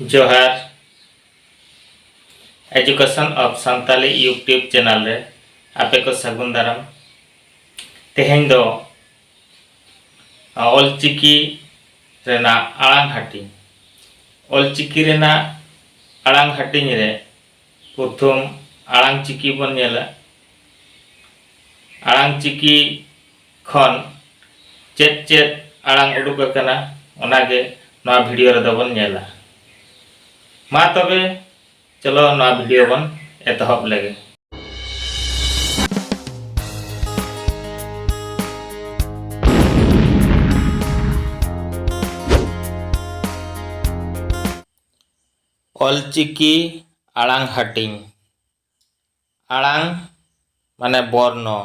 ᱡᱚᱦᱟᱨ education of Santali YouTube channel ᱨᱮ ᱟᱯᱮ ᱠᱚ ᱥᱟᱹᱜᱩᱱ ᱫᱟᱨᱟᱢ ᱛᱮᱦᱮᱧ ᱫᱚ ᱚᱞᱪᱤᱠᱤ ᱨᱮᱱᱟᱜ ᱟᱲᱟᱝ ᱦᱟᱹᱴᱤᱧ ᱚᱞᱪᱤᱠᱤ ᱨᱮᱱᱟᱜ ᱟᱲᱟᱝ ᱦᱟᱹᱴᱤᱧ ᱨᱮ ᱯᱨᱚᱛᱷᱚᱢ ᱟᱲᱟᱝ ᱪᱤᱠᱤ ᱵᱚᱱ ᱧᱮᱞᱟ ᱟᱲᱟᱝ ᱪᱤᱠᱤ ᱠᱷᱚᱱ ᱪᱮᱫ ᱪᱮᱫ ᱟᱲᱟᱝ ᱩᱰᱩᱠ ᱟᱠᱟᱱᱟ ᱚᱱᱟ ᱜᱮ ᱱᱚᱣᱟ ᱵᱷᱤᱰᱤᱭᱳ ᱨᱮᱫᱚ ᱵᱚᱱ ᱧᱮᱞᱟ ᱢᱟ ᱛᱚᱵᱮ ᱪᱚᱞᱚ ᱱᱚᱣᱟ ᱵᱷᱤᱰᱤᱭᱳ ᱵᱚᱱ ᱮᱛᱚᱦᱚᱵ ᱞᱮᱜᱮ ᱚᱞᱪᱤᱠᱤ ᱟᱲᱟᱝ ᱦᱟᱹᱴᱤᱧ ᱟᱲᱟᱝ ᱢᱟᱱᱮ ᱵᱚᱨᱱᱚ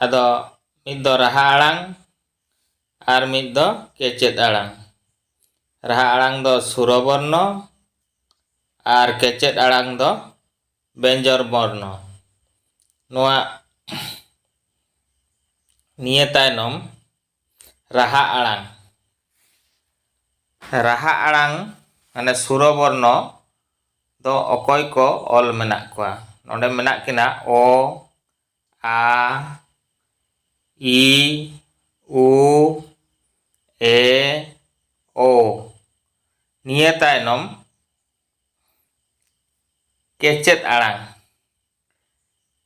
ᱟᱫᱚ ᱢᱤᱫ ᱫᱚ ᱨᱟᱦᱟ ᱟᱲᱟᱝ ᱟᱨ ᱢᱤᱫ ᱫᱚ ᱠᱮᱪᱮᱫ ᱟᱲᱟᱝ ᱨᱟᱦᱟ ᱟᱲᱟᱝ ᱫᱚ ᱥᱩᱨᱚ ᱵᱚᱨᱱᱚ ᱟᱨ ᱠᱮᱪᱮᱫ ᱟᱲᱟᱝ ᱫᱚ ᱵᱮᱧᱡᱚᱨ ᱵᱚᱨᱱᱚ ᱱᱚᱣᱟ ᱱᱤᱭᱟᱹ ᱛᱟᱭᱱᱚᱢ ᱨᱟᱦᱟ ᱟᱲᱟᱝ ᱨᱟᱦᱟ ᱟᱲᱟᱝ ᱢᱟᱱᱮ ᱥᱩᱨᱚᱵᱚᱨᱱᱚ ᱫᱚ ᱚᱠᱚᱭ ᱠᱚ ᱚᱞ ᱢᱮᱱᱟᱜ ᱠᱚᱣᱟ ᱱᱚᱰᱮ ᱢᱮᱱᱟᱜ ᱠᱤᱱᱟ ᱚ ᱟ ᱤ ᱩ ᱮ ᱳ ᱱᱤᱭᱟᱹ ᱛᱟᱭᱱᱚᱢ ᱠᱮᱪᱮᱫ ᱟᱲᱟᱝ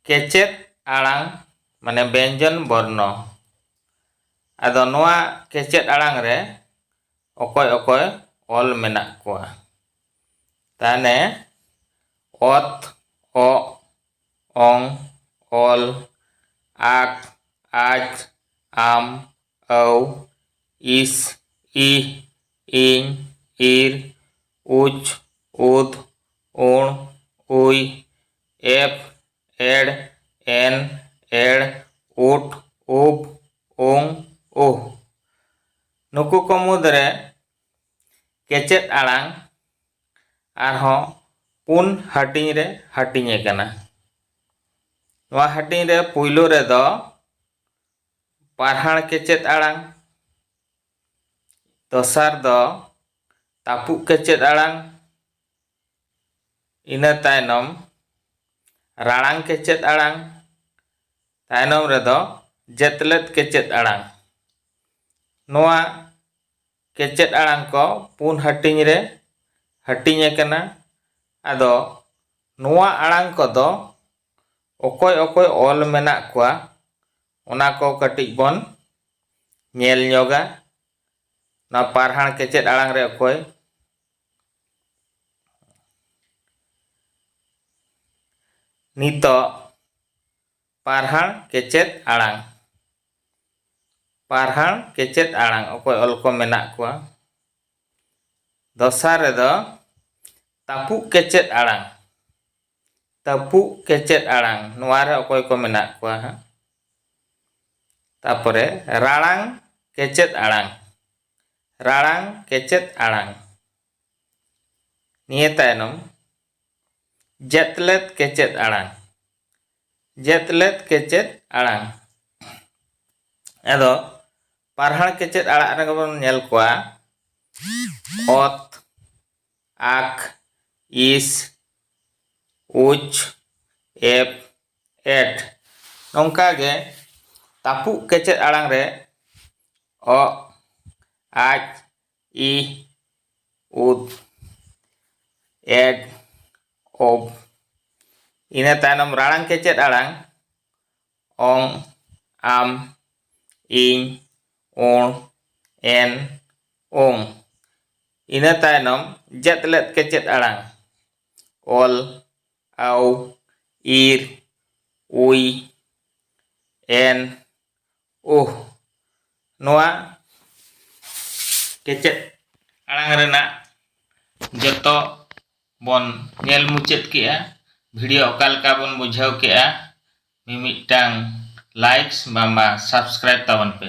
ᱠᱮᱪᱮᱫ ᱟᱲᱟᱝ ᱢᱟᱱᱮ ᱵᱮᱧᱡᱚᱱ ᱵᱚᱨᱱᱚ ᱟᱫᱚ ᱱᱚᱣᱟ ᱠᱮᱪᱮᱫ ᱟᱲᱟᱝ ᱨᱮ ᱚᱠᱚᱭ ᱚᱠᱚᱭ ᱚᱞ ᱢᱮᱱᱟᱜ ᱠᱚᱣᱟ ᱛᱟᱦᱚᱞᱮ ᱚᱛ ᱚᱜ ᱚᱝ ᱚᱞ ᱟᱠ ᱟᱡ ᱟᱢ ᱟᱹᱣ ᱤᱥ ᱤ ᱤᱧ ᱤᱨ ᱩᱪ ᱩᱫ ᱩᱬ ᱩᱭ ᱮᱯᱷ ᱮᱲ ᱮᱱ ᱮᱲ ᱩᱴ ᱩᱯ ᱩᱝ ᱩᱦ ᱱᱩᱠᱩ ᱠᱚ ᱢᱩᱫᱽᱨᱮ ᱠᱮᱪᱮᱫ ᱟᱲᱟᱝ ᱟᱨᱦᱚᱸ ᱯᱩᱱ ᱦᱟᱹᱴᱤᱧ ᱨᱮ ᱦᱟᱹᱴᱤᱧ ᱟᱠᱟᱱᱟ ᱱᱚᱣᱟ ᱦᱟᱹᱴᱤᱧ ᱨᱮ ᱯᱩᱭᱞᱩ ᱨᱮᱫᱚ ᱯᱟᱨᱦᱟᱲ ᱠᱮᱪᱮᱫ ᱟᱲᱟᱝ ᱫᱚᱥᱟᱨ ᱫᱚ ᱛᱟᱹᱯᱩᱜ ᱠᱮᱪᱮᱫ ᱟᱲᱟᱝ ᱤᱱᱟᱹ ᱛᱟᱭᱱᱚᱢ ᱨᱟᱲᱟᱝ ᱠᱮᱪᱮᱫ ᱟᱲᱟᱝ ᱛᱟᱭᱱᱚᱢ ᱨᱮᱫᱚ ᱡᱮᱛᱞᱮᱫ ᱠᱮᱪᱮᱫ ᱟᱲᱟᱝ ᱱᱚᱣᱟ ᱠᱮᱪᱮᱫ ᱟᱲᱟᱝ ᱠᱚ ᱯᱩᱱ ᱦᱟᱹᱴᱤᱧ ᱨᱮ ᱦᱟᱹᱴᱤᱧ ᱟᱠᱟᱱᱟ ᱟᱫᱚ ᱱᱚᱣᱟ ᱟᱲᱟᱝ ᱠᱚᱫᱚ ᱚᱠᱚᱭ ᱚᱠᱚᱭ ᱚᱞ ᱢᱮᱱᱟᱜ ᱠᱚᱣᱟ ᱚᱱᱟ ᱠᱚ ᱠᱟᱹᱴᱤᱡ ᱵᱚᱱ ᱧᱮᱞ ᱧᱚᱜᱟ ᱱᱚᱣᱟ ᱯᱟᱨᱦᱟᱲ ᱠᱮᱪᱮᱫ ᱟᱲᱟᱝ ᱨᱮ ᱚᱠᱚᱭ ᱱᱤᱛᱚᱜ ᱯᱟᱨᱦᱟᱲ ᱠᱮᱪᱮᱫ ᱟᱲᱟᱝ ᱯᱟᱨᱦᱟᱲ ᱠᱮᱪᱮᱫ ᱟᱲᱟᱝ ᱚᱠᱚᱭ ᱚᱞ ᱠᱚ ᱢᱮᱱᱟᱜ ᱠᱚᱣᱟ ᱫᱚᱥᱟᱨ ᱨᱮᱫᱚ ᱛᱟᱹᱯᱩᱜ ᱠᱮᱪᱮᱫ ᱟᱲᱟᱝ ᱛᱟᱹᱯᱩᱜ ᱠᱮᱪᱮᱫ ᱟᱲᱟᱝ ᱱᱚᱣᱟ ᱨᱮ ᱚᱠᱚᱭ ᱠᱚ ᱢᱮᱱᱟᱜ ᱠᱚᱣᱟ ᱦᱟᱸᱜ ᱛᱟᱨᱯᱚᱨᱮ ᱨᱟᱲᱟᱝ ᱠᱮᱪᱮᱫ ᱟᱲᱟᱝ ᱨᱟᱲᱟᱝ ᱠᱮᱪᱮᱫ ᱟᱲᱟᱝ ᱱᱤᱭᱟᱹ ᱛᱟᱭᱱᱚᱢ ᱡᱮᱛᱞᱮᱫ ᱠᱮᱪᱮᱫ ᱟᱲᱟᱝ ᱡᱮᱛᱞᱮᱫ ᱠᱮᱪᱮᱫ ᱟᱲᱟᱝ ᱟᱫᱚ ᱯᱟᱨᱦᱟᱲ ᱠᱮᱪᱮᱫ ᱟᱲᱟᱜ ᱨᱮᱜᱮ ᱵᱚᱱ ᱧᱮᱞ ᱠᱚᱣᱟ ᱚᱛ ᱟᱠ ᱤᱥ ᱩᱪ ᱮᱯᱷ ᱮᱴ ᱱᱚᱝᱠᱟ ᱜᱮ ᱛᱟᱹᱯᱩᱜ ᱠᱮᱪᱮᱫ ᱟᱲᱟᱝ ᱨᱮ ᱚᱜ ᱟᱡ ᱤ ᱩᱫ ᱮᱰ ᱚᱵ ᱤᱱᱟᱹ ᱛᱟᱭᱱᱚᱢ ᱨᱟᱲᱟᱝ ᱠᱮᱪᱮᱫ ᱟᱲᱟᱝ ᱚᱝ ᱟᱢ ᱤᱧ ᱩᱬ ᱮᱱ ᱩᱝ ᱤᱱᱟᱹ ᱛᱟᱭᱱᱚᱢ ᱡᱮᱫ ᱞᱮᱫ ᱠᱮᱪᱮᱫ ᱟᱲᱟᱝ ᱚᱞ ᱟᱣ ᱤᱨ ᱩᱭ ᱮᱱ ᱩᱦ ᱱᱚᱣᱟ ᱠᱮᱪᱮᱫ ᱟᱲᱟᱝ ᱨᱮᱱᱟᱜ ᱡᱚᱛᱚ ᱵᱚᱱ ᱧᱮᱞ ᱢᱩᱪᱟᱹᱫ ᱠᱮᱜᱼᱟ ᱵᱷᱤᱰᱤᱭᱳ ᱚᱠᱟ ᱞᱮᱠᱟ ᱵᱚᱱ ᱵᱩᱡᱷᱟᱹᱣ ᱠᱮᱜᱼᱟ ᱢᱤᱢᱤᱫᱴᱟᱝ ᱞᱟᱭᱤᱠᱥ ᱵᱟᱝᱢᱟ ᱥᱟᱵᱥᱠᱨᱟᱭᱤᱵᱽ ᱛᱟᱵᱚᱱ ᱯᱮ